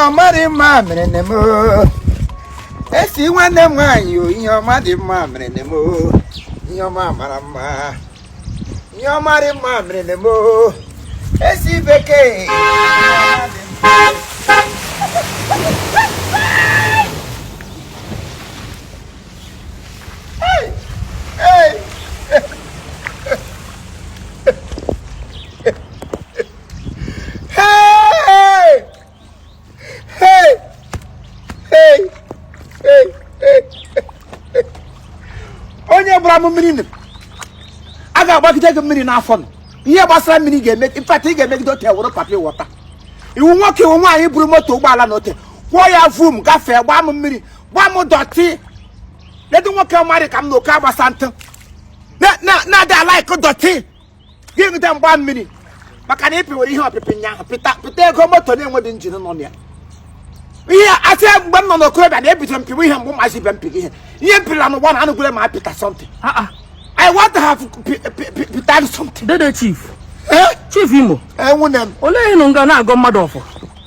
ọma rị mma mere nne m esi nwanne m nwaanyị o ihe ọma dị mma mere nne m ihe ọma mara mma ihe ọma rị mma mere nne m esi bekee Hey! Hey! Hey! Hey! onye gbara m mmiri nụrụ a ga-agbagide gị mmiri n'afọ nụ ihe gbasara mmiri ga-eme mfata ị ga-emegide ote wụrụ papa ị wụ nwata ị wụ nwoke ị wụ nwaanyị buru moto ụgbọala na ote kwụọ ya vum gafee gbaa m mmiri gbaa m dọtị ledo nwoke ọma rị ka m na oke agbasa ntụ na-adị a-like dọtị gị ṅụta mgba mmiri maka na ị pịwere ihe ọpịpị nnyaahụ pịta pịta ego moto na-enweghị engine nọ na ya ihe asị ya mgbe m nọ n'okorobịa na ebido mpịwa ihe mgbe mazi ibe mpịrị ihe ihe mpịrịla n'ụgbọ na anụgwere ma pịta something Ah, ah. I want to have pi- pi- pi- pịta something dede chief Eh? chief imo nwunne m olee ihe ị nọ nga na-agọ mmadụ ọfọ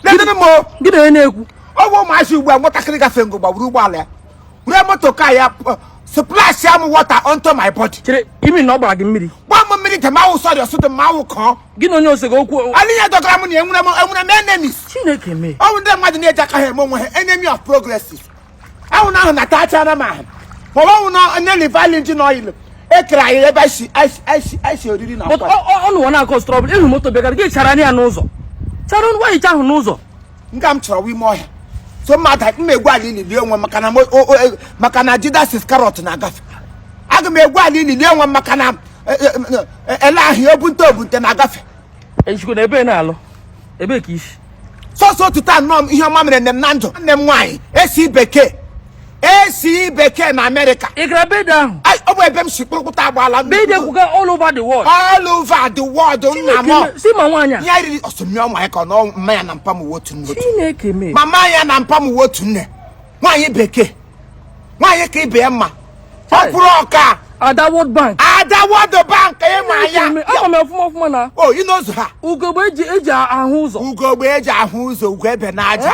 nedịrị m o gị na onye na-ekwu ọ bụ ụmụazị ugbu a nwatakịrị gafe ngo gbagburu ụgbọala ya were moto ka ya splash am water onto my body chere imi na ọ gbara gị mmiri gba m mmiri de ma ọ wụ sorry ọsụtụ m awụ kọọ gị na onye ose gị okwu alinya dọgara m na enwere m enwere m enemies chineke mee ọ bụ ndị mmadụ na-eji aka ha eme onwe ha enemy of progresses ahụ na ahụ na tachara m ahụ ma ọ bụ na onye liver na engine oil e kere anyị ebe anyị si anyị si anyị si anyị si oriri na but nkwari. ọ unu nwa na-a cause trouble ị hụ moto bịagara gị chara ya n'ụzọ chara nwaanyị ahụ n'ụzọ nga m chọrọ wa ime ọhịa so mma aga m egwu ala ili lie onwe m maka na mo- o- o- e- maka na Judas Iscariot na-agafe aga m egwu ala ili lie onwe m maka na e- e- e- ele ahịa obunte obunte na-agafe ejikwa na ebe ị na-alụ ebee ka i si sọsọ ụtụtụ a nnọọ m ihe ọma mere nne m na ndụ nne m nwaanyị esi bekee esi bekee na America ị gara birthday ahụ Ai, ọ bụ ebe m si kpụrụkpụta agbaala birthday kwuga all over the world all over the world nna m Chineke, si ma nwaanyị a ya riri ọsọmmi ọnwa ya ka ọ nọ mama ya na mpa m nwe otu nne otu chineke mee mama ya na mpa m nwe otu nne nwaanyị bekee nwaanyị ka ibe ya mma ọ kwụrụ ọka ada world bank ada world bank ị ma ya Chineke mee, ama m ya ọfụma ọfụma na o inozu ha ugogbe eji eji ahụ ụzọ ugogbe eji ahụ ụzọ ugwu ebe na aja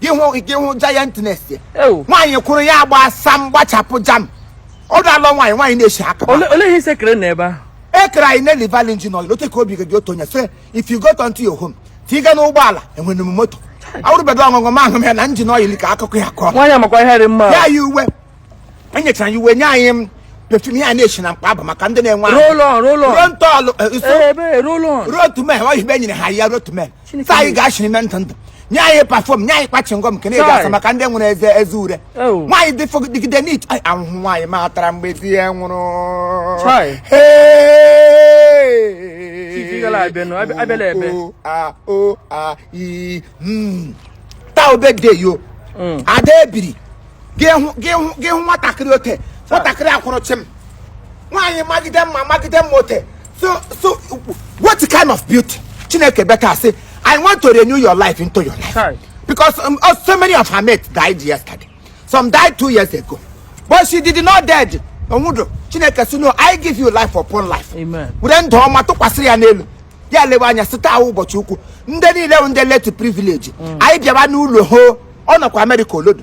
gị hụ gị hụ giantness ya Ewu. nwaanyị kwụrụ ya agba asa mgbachapụ jam ọ dala nwaanyị nwaanyị na-eshi aka Ole ole ihe ị sị e kere na ebe ahụ? e kere anyị na liver engine oil otu ka obi gị dị otu onye sị if you go to your home tiga n'ụgbọala enwere m moto awụrụbedo ọṅụṅụ ma ahụ m ya na engine oil ka akụkọ ya kọọ Nwaanyị amakwa ihe dị mma. ya yi uwe enyechara ya uwe nye anyị m perfume ya na-eshi na mkpa abụ maka ndị na-enwe ahụ. Roll on, roll on. ruo ntọọlụ eh, iso- Ee, ebe roll on. ruo otu mee oyibo nyere ha ya ruo otu mee sa anyị ga-achị n'ime ntụ ntụ nye anyị perfume nye anyị kwa chewing gum nke na-eji asa maka ndị nwere eze eze ure nwaanyị dị dịgide n'ịta ahụhụ nwaanyị ọma tara mgbe di ya nwụrụ taa ọ birthday ya o ada ebiri gị hụ gị hụ gị hụ nwatakịrị ote nwatakịrị a kwụrụ chịm nwaanyị magide mma magide mma ote so so what kind of beauty chineke beka sị i want to renew your life into your life Chai. because um, uh, so many of her mates died yesterday some died two years ago but she did not dead onwudo chineke sị no i give you life upon life Amen. were ndụ ọma tụkwasịrị ya n'elu ya lewe anya sị taa wụ ụbọchị ukwu ndị niile bụ ndị less privilege anyị bịaba n'ụlọ hoo ọ nọkwa America olodo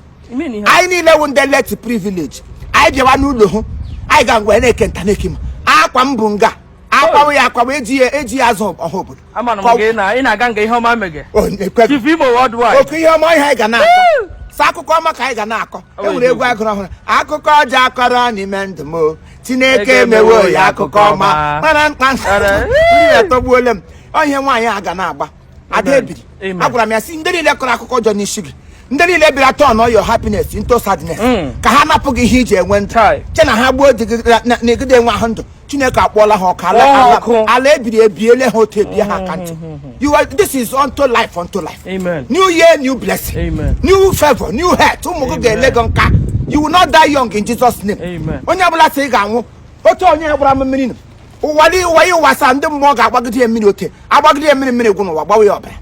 anyị niile wụ ndị less privilege anyị bịawa n'ụlọ hoo anyị ga ngwa na-eke nta na-eke ma akwa m bụ nga akwawo ya akwawo eji ya eji ya azụ ọha obodo oke ihe ọma ihe anyị ga na-akọ sọ akụkọ ọma ka anyị ga na-akọ e nwere egwu a gụrụ ọhụrụ akụkọ ọjọọ a kọrọ n'ime ndụ m chineke emewo ya akụkọ ọma mana mkpa ntọgbuole m ọ ihe nwaanyị a ga na-agba ada ebiri agwara m ya sị ndị niile kọrọ akụkọ ọjọọ n'isi gị ndị niile bịara turn all your happiness into sadness hmm. ka ha napụ gị ihe i ji enwe ndụ che na ha gbuo di gị na egide enwe ahụ ndụ chineke akpọọla ha ọka ala ebiri ebiele ha otu ebie ha aka ntị hmm, hmm, you are this is unto life unto life new year new blessing new favor new health ụmụ gị ga-ele gị nka you will not die young in Jesus name onye ọbụla sị ị ga-anwụ otu onye gbara m mmiri ụwa dị ụwa ya ụwa asaa ndị mmụọ ga-agbagide ya mmiri ote agbagide ya mmiri mmiri gwụ n'ụwa gbawa ya ọbara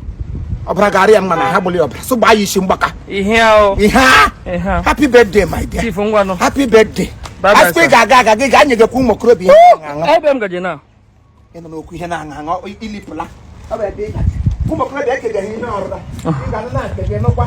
ọbara ga-arị ya mma na ha gbụrụ ya ọbara so gbaa ya isi mgbaka ihe ahụ ihe a ihe ahụ happy birthday my dear chief ngwanụ happy birthday Bye bye, asịkwa ị sir. ga-aga aga gị ga-anye gị kwa ụmụ okorobịa ihe na-aṅụ aṅụ ebe m gaje na ị nọ n'okwu ihe na-aṅụ aṅụ i- ilipụla Ọ bụ ebe ị gaje. ụmụ okorobịa ekegaghị ihe ọrụla ị ga-anụ na-akpege nụkwa